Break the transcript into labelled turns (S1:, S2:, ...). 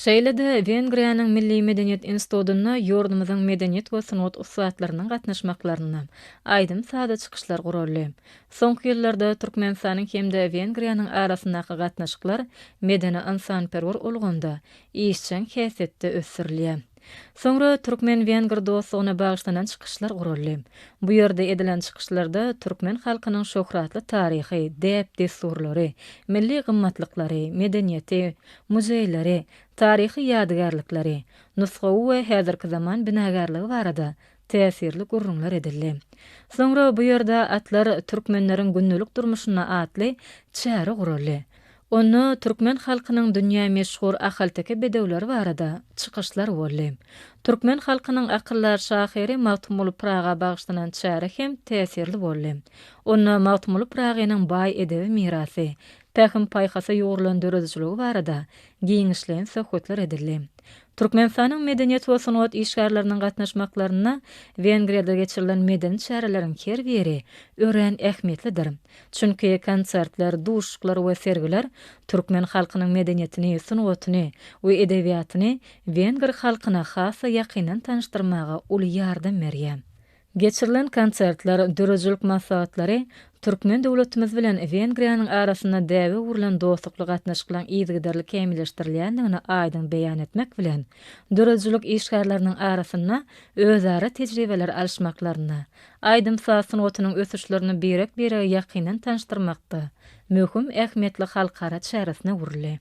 S1: Şeýle-de, Wengriýanyň Milli medeniýet institutynda ýurdumyzyň medeniýet we sungat ussatlarynyň gatnaşmaklarynda aýdym-sazly çykyşlar guraldy. Soňky ýyllarda Türkmenistanyň hem-de Wengriýanyň arasyndaky gatnaşyklar medeni-ynsanperwer ulgamda, işjeň häsiýetde ösdürilýär. Soňra türkmen-wenger dostlugyna bagyşlanan çykyşlar guraldy. Bu ýerde edilen çykyşlarda türkmen halkynyň şöhratly taryhy, däp-dessurlary, milli gymmatlyklary, medeniýeti, muzeýleri, taryhy ýadygärlikleri, nusgawy we häzirki zaman binagärligi barada täsirli gürrüňler edildi. Soňra bu ýerde Atlar türkmenleriň gündelik durmuşynda atly çäre guraldy. Onda türkmen halkynyň dünýä meşhur ahalteke bedewleri barada çykyşlar boldy. Türkmen halkynyň akyldar şahyry Magtymguly Pyraga bagyşlanan çäre hem täsirli boldy. Onda Magtymguly Pyragynyň baý edebi mirasy, pähim-paýhasa ýugrulan döredijiligi barada giňişleýin söhbetler edildi. Türkmenistanyň medeniýet we sungat işgärleriniň gatnaşmaklarynda Wengriýada geçirilen medeni çäreleriň her biri örän ähmiýetlidir. Çünki konsertler, duşuşyklar we sergiler türkmen halkynyň medeniýetini, sungatyny we edebiýatyny wenger halkyna has-da ýakyndan tanyşdyrmaga uly ýardam berýär. Geçirilen konsertler, döredijilik maslahatlary türkmen döwletimiz bilen Wengriýanyň arasynda däbe öwrülen dostlukly gatnaşyklaryň yzygiderli kämilleşdirilýändigini aýdyň beýan etmek bilen, döredijilik işgärleriniň arasynda özara tejribeleri alyşmaklarynda, aýdym-saz sungatynyň ösüşlerini birek-birege ýakyndan tanyşdyrmakda möhüm ähmiýetli halkara çäresine öwrüldi.